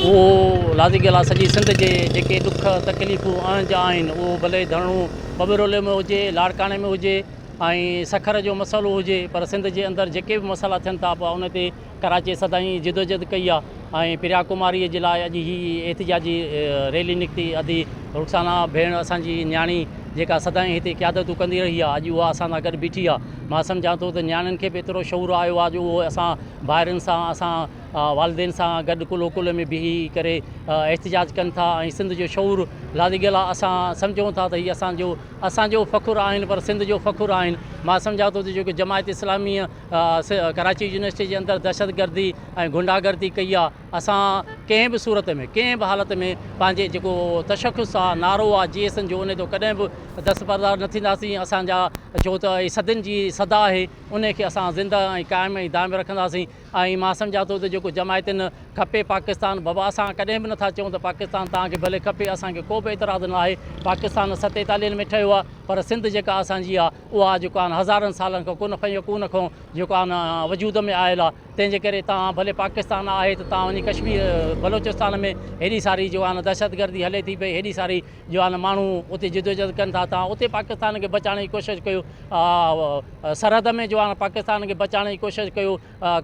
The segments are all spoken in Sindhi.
اهو لازي ڳالهه آهي سڄي سنڌ جي جيڪي ڏک تڪليفون اڻ جا آهن اهو ڀلي ڌرڻو ٻٻرولي ۾ هجي لاڙڪاڻي ۾ هجي ۽ سکر جو مسئلو هجي پر سنڌ جي اندر جيڪي به مسئلا ٿين ٿا پوء ان تي ڪراچي سدائين جدوجهد ڪئي آهي ۽ پريا ڪماري جي لاء اڄ هي احتجاجي ريلي نڪتي ادي رخسانا ڀيڻ اسان جي نياڻي جيڪا سدائين هتي قيادتون ڪندي رهي آهي اڄ اها اسان سان گڏ بيٺي آهي مان سمجهان ٿو ته نياڻين کي به ايترو شعور آيو آهي جو اهو اسان ڀائرن سان اسان والدين سان گڏ ڪلهو ڪلهي ۾ بيهي ڪري احتجاج ڪن ٿا ۽ سنڌ جو شعور لاري گلا اسان سمجهون ٿا ته هي اسان جو اسان جو فخر آهن پر سنڌ جو فخر آهن مان سمجهان ٿو ته جيڪو جماعت اسلامي ڪراچي يونيورسٽي جي اندر دهشت گردي ۽ گنڊا گردي ڪئي آ اسان ڪنهن به صورت ۾ ڪنهن به حالت ۾ پنهنجي جيڪو تشخص آ نعرو آ جي ايس ان جو ان تي ڪڏهن به دستبردار نه ٿينداسين اسان جا جو ته صدين جي صدا آهي ان کي اسان زنده ۽ قائم ۽ دائم رکنداسين ۽ مان سمجهان ٿو ته جيڪو جماعتين کپي پاڪستان بابا اسان ڪڏهن به نٿا چئون ته پاڪستان توهان کي ڀلي کپي اسان کي ڪو به اعتراض نه آهي پاڪستان ستيتاليهن ۾ ٺهيو آهي پر سنڌ جيڪا اسان جي آهي اها جيڪو آهن هزارن سالن کان ڪن فيڪون کان جيڪو آهن وجود ۾ آيل آهي تنهن جي ڪري توهان ڀلي پاڪستان آهي ته توهان وڃي ڪشمير بلوچستان ۾ هيڏي ساري جو آهن دهشتگردي هلي ٿي پئي هيڏي ساري جو آن ماڻهو اتي جدوجهد ڪن ٿا تان اتي پاڪستان کي بچائڻ جي ڪوشش ڪيو سرحد ۾ جو آن پاڪستان کي بچائڻ جي ڪوشش ڪيو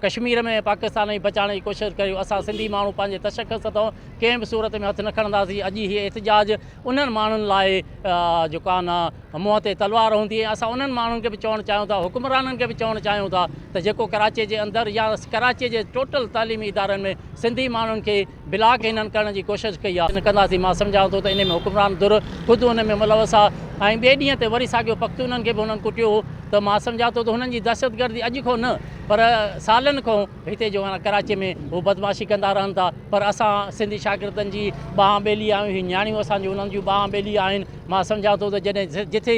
ڪشمير ۾ پاڪستان جي بچائڻ جي ڪوشش ڪيو اسان سنڌي ماڻهو پنهنجي تشخص تان ڪنهن به صورت ۾ هٿ نه کڻنداسين اڄ هي احتجاج انهن ماڻهن لاء جو ڪان منهن تي تلوار هوندي ۽ اسان انهن ماڻهن کي به چوڻ چاهيون ٿا حڪمرانن کي به چوڻ چاهيون ٿا ته جيڪو ڪراچي جي اندر يا ڪراچي جي ٽوٽل تعليمي ادارن ۾ سنڌي ماڻهن کي بلاڪ انهن ڪرڻ جي ڪوشش ڪئي آهي. نه ڪنداسين مان سمجهان ٿو ته انهي ۾ حڪمران ڌر خود ان ۾ ملوث آهي ۽ ٻئي ڏينهن تي وري ساڳيو پختونن کي به انهن ڪٽيو هو ته مان سمجهان ٿو ته هنن جي دهشتگردي اڄ کان نه پر سالن کان هتي جو هاڻ ڪراچي ۾ هو بدمعاشي ڪندا رهن ٿا پر اسان سنڌي شاگردن جي ٻانهن ٻيلي آهيون هي نياڻيون اسان جون انهن جون ٻانهن ٻيلي آهن مان سمجهان ٿو ته جڏهن جٿي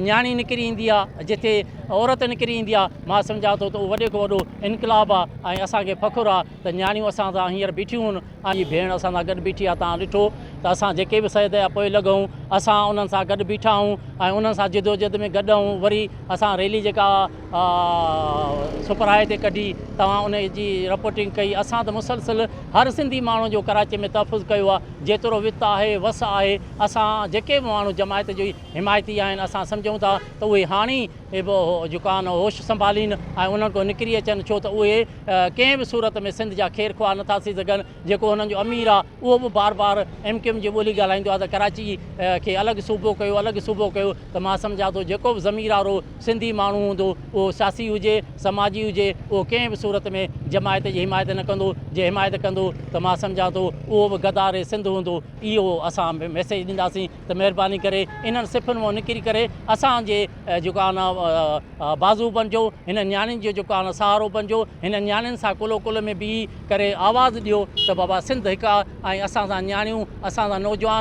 نياڻي نڪري ايندي آهي جٿي عورت نڪري ايندي آهي مان سمجهان ٿو ته اهو وڏي کان وڏو انقلاب آهي ۽ اسان کي فخر آهي ته نياڻيون اسان سان هينئر بيٺيون هون ۽ هي ڀيڻ اسان سان گڏ بيٺي آهي، توهان ڏٺو ته اسان جيڪي به سيد جا پوئي لڳ هون، اسان انهن سان گڏ بيٺا هون ۽ انهن سان جدوجهد ۾ گڏ هون، وري اسان ريلي جيڪا سپر هاء تي ڪڍي، توهان ان جي رپورٽنگ ڪئي، اسان ته مسلسل هر سنڌي ماڻهو جو ڪراچي ۾ تحفظ ڪيو آهي، جيترو وت آهي، وس آهي، اسان جيڪي به ماڻهو جماعت جي حمايتي آهن، اسان سمجهون ٿا ته اهي هاڻي به جيڪو آهن هوش سنڀالين ۽ انهن کان نڪري اچن، ڇو ته اهي ڪنهن به صورت ۾ سنڌ جا خير خواهه نٿا ٿي سگهن، جيڪو هنن جو امير آ اهو به بار بار ايم ڪيو ايم جي ٻولي ڳالهائيندو آ ته ڪراچي کي الڳ صوبو ڪيو الڳ صوبو ڪيو ته مان سمجهان ٿو جيڪو به ضمير وارو سنڌي ماڻهو هوندو اهو سياسي هجي سماجي هجي اهو ڪنهن به صورت ۾ جماعت جي حمايت نه ڪندو جي حمايت ڪندو ته مان سمجهان ٿو اهو به غدار سنڌ هوندو اهو اسان ميسيج ڏينداسين. ته مهرباني ڪري انهن صفن مان نڪري ڪري اسان جي جيڪو آهي نه بازو بنجو هنن نياڻين جو جيڪو آهي سهارو بنجو هنن نياڻين سان ڪلهو ڪلهه ۾ بيهي ڪري آواز ڏيو ته بابا سنڌ هڪ آهي ۽ اسان سان نياڻيون اسان سان نوجوان